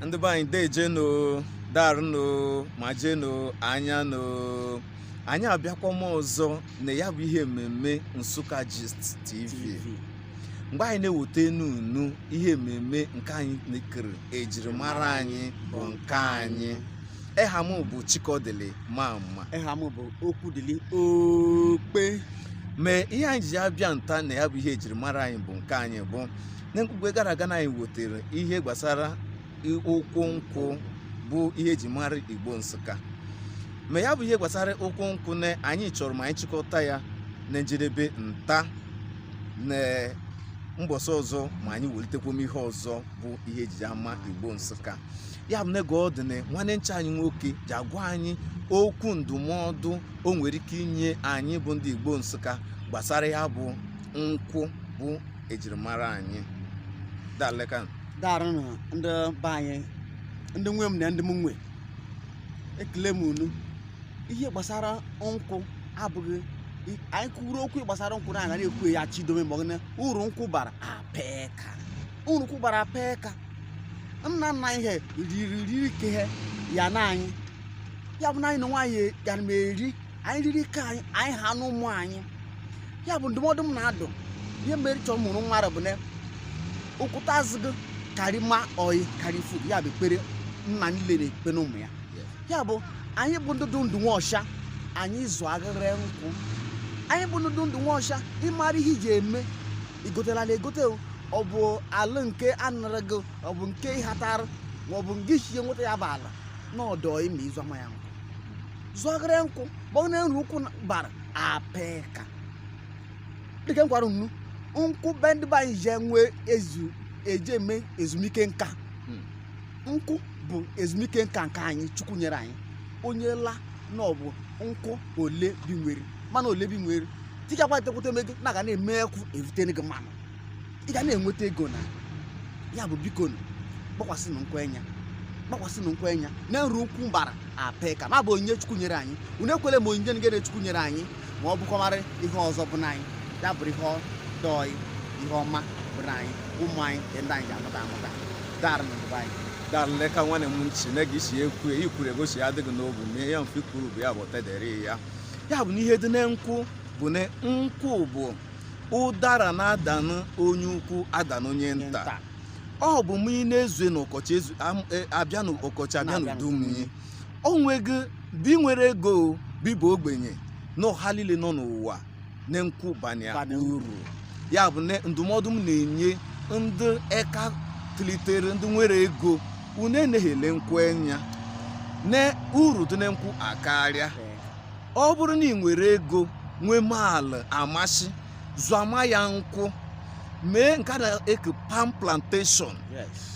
ndị be anyị dejenu darụnụ ma jenu anya nụ anyị abịakwama ọzọ na ya bụ ihe mmemme Nsukka Gist TV mgbe anyị na-ewotenụ unu ihe mmemme nke anyị nekere ejirimara anyị bụ nke anyị eha m bụ Chikodili Mama eha m bụ Okwudili Okpe mee ihe anyị ji abịa nta na ya bụ ihe ejirimara anyị bụ nke anyị bụ na mkpugbe gara aga na anyị wotere ihe gbasara ụkwụ nkwụ bụ ihe eji mara igbo nsụka ma ya bụ ihe gbasara ụkwụ nkwụ na anyị chọrọ ma anyị chịkọta ya na njedebe nta na mbọsị ọzọ ma anyị welitekwom ihe ọzọ bụ ihe eji ama igbo nsụka ya bụ n'ego ọ dị na nwanne ncha anyị nwoke ja-agwa anyị okwu ndụmọdụ o nwere ike inye anyị bụ ndị igbo nsụka gbasara ya bụ nkwụ bụ ejirimara anyị daleka darụnụ ndị be anyị ndị nwe m na ndị m nwe ekele m unu ihe gbasara nkwụ abụghị anyị kwuru okwu gbasara nkwụ na anaghị ekwu ya chidome maka na uru nkwụ bara apeka uru nkwụ bara apeka nna nna he riri nke he hanụ anyị ya bụ na anyị na nwa anyị gara m eri anyị riri nke anyị anyị hanụ ụmụ anyị ya bụ ndụmọdụ m na-adụ ihe mere chọọ mụrụ nwa bụ na okwuta azụ gị karị ma oyi karị fuo ya bụ ekpere nna niile na-ekpenụ ụmụ ya ya bụ anyị bụ ndị dụ ndụ nwọshwa anyị zụ agharị nkwụ anyị bụ ndị dụ ndụ nwọshwa ịmara ihe iji eme igotela ala egote ọ bụ ala nke anara gị ọ bụ nke ịhatara ma ọ bụ nke i shi nweta ya bụ ala na ọ dụ oyi ma ị zọma ya nkwụ zụọgara nkwụ biko na uru nkwụ bara apeka dịka m gwara unu nkwụ be ndị be anyị ji enwe ezu eji eme ezumike nka Hmm. nkwụ bụ ezumike nka nke anyị chukwu nyere anyị onye la na ọ bụ nkwụ ole bi nwere mana ole bi nwere tikakwa etekwute eme gị na ga na-eme ekwụ evutenụ gị mmanụ ị ga na-enweta ego na ya bụ biko gbakwasịnụ nkwụ enya gbakwasịnụ nkwụ enya na uru nkwụ bara apeka ma bụ onyinye chukwu nyere anyị unu ekwele ma onyinye nke chukwu nyere anyị ma ọ bụkọmarị ihe ọzọ bụ na anyị ya bụrụ ihe dụ oyi ihe ọma bụ na anyị ụmụ anyị nke ndị anyị ja-amụta amụta darụnụ ndị be anyị daleka nwanne m si na gị si ekwu ya ikwuru ego si adị gị n'obu ma ihe mfe ikwuru bụ ya bụ tedere ya ya bụ na ihe dị na nkwụ bụ na nkwụ bụ ụdara na-adanụ onye ukwu adanụ onye nta ọ bụ mụ ị na-ezue n'ụkọchị ezu am- e, abịa n'ụkọchị abịa n'udu mmiri o nweghị bi nwere ego o, bi bụ ogbenye na ọha niile nọ n'ụwa na nkwụ banụ ya uru ya bụ na ndụmọdụ m na-enye ndị eka tilitere ndị nwere ego unu eneghele nkwụ enya na uru dị na nkwụ akarịa ọ bụrụ na ị nwere ego nwee maala amasị zụama ya nkwụ mee nke a na-eke palm plantation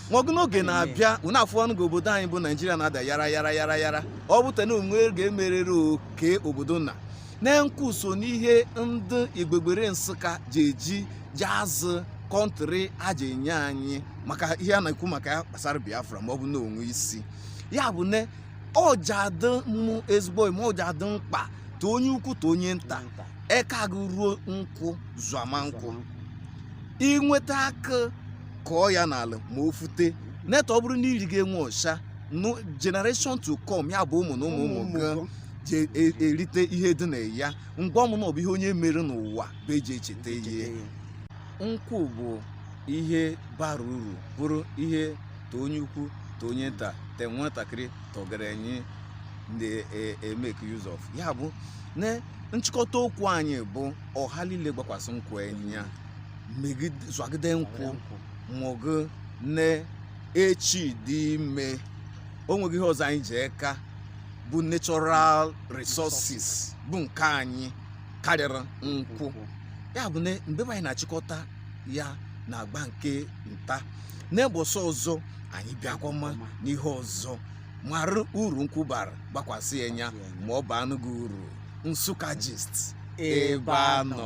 nwago n'oge na-abịa unu afụwanụ ga obodo anyị bụ naijiria na-ada yara yara yara yara ọ bụta na o nwe ga e merere oke obodo na na nkwụ so n'ihe ndị igbegbere nsụka ji eji ji azụ kọntrị a je-enye anyị maka ihe a na-ekwu maka ya gbasara biafra ma ọ bụ na o nwe isi ya bụ na ọ ji adị mụ ezigbo mma ọ ji adị mkpa te onye ukwu te onye nta eka gị ruo nkwụ zụama nkwụ i nweta akụ kọọ ya n'ala ma o fute neta ọ bụrụ na i rigị enwe ọsha nụ generation to come ya bụ ụmụ na ụmụ ụmụ gị je-erite ihe dị na ya ngwa ọmụ na ọ bụ ihe onye mere n'ụwa bụ e ji echeta ihe nkwụ bụ ihe bara uru bụrụ ihe te onye ukwu te onye nta te nwatakịrị te ọgerenyị na-e make use of ya bụ na nchịkọta okwu anyị bụ ọha niile gbakwasị nkwụ enya zụagide nkwụ mụgụ na echi dị ime o nweghị ihe ọzọ anyị ji eka bụ natural resources bụ nke anyị karịrị nkwụ ya bụ na mgbe anyị na-achịkọta ya n'agba nke ntaa n'episode ọzọ anyị bịakwama n'ihe ọzọ mara uru nkwụ bara gbakwasị ya enya ma ọ baanụ gị uru nsụka gist ebe a nọ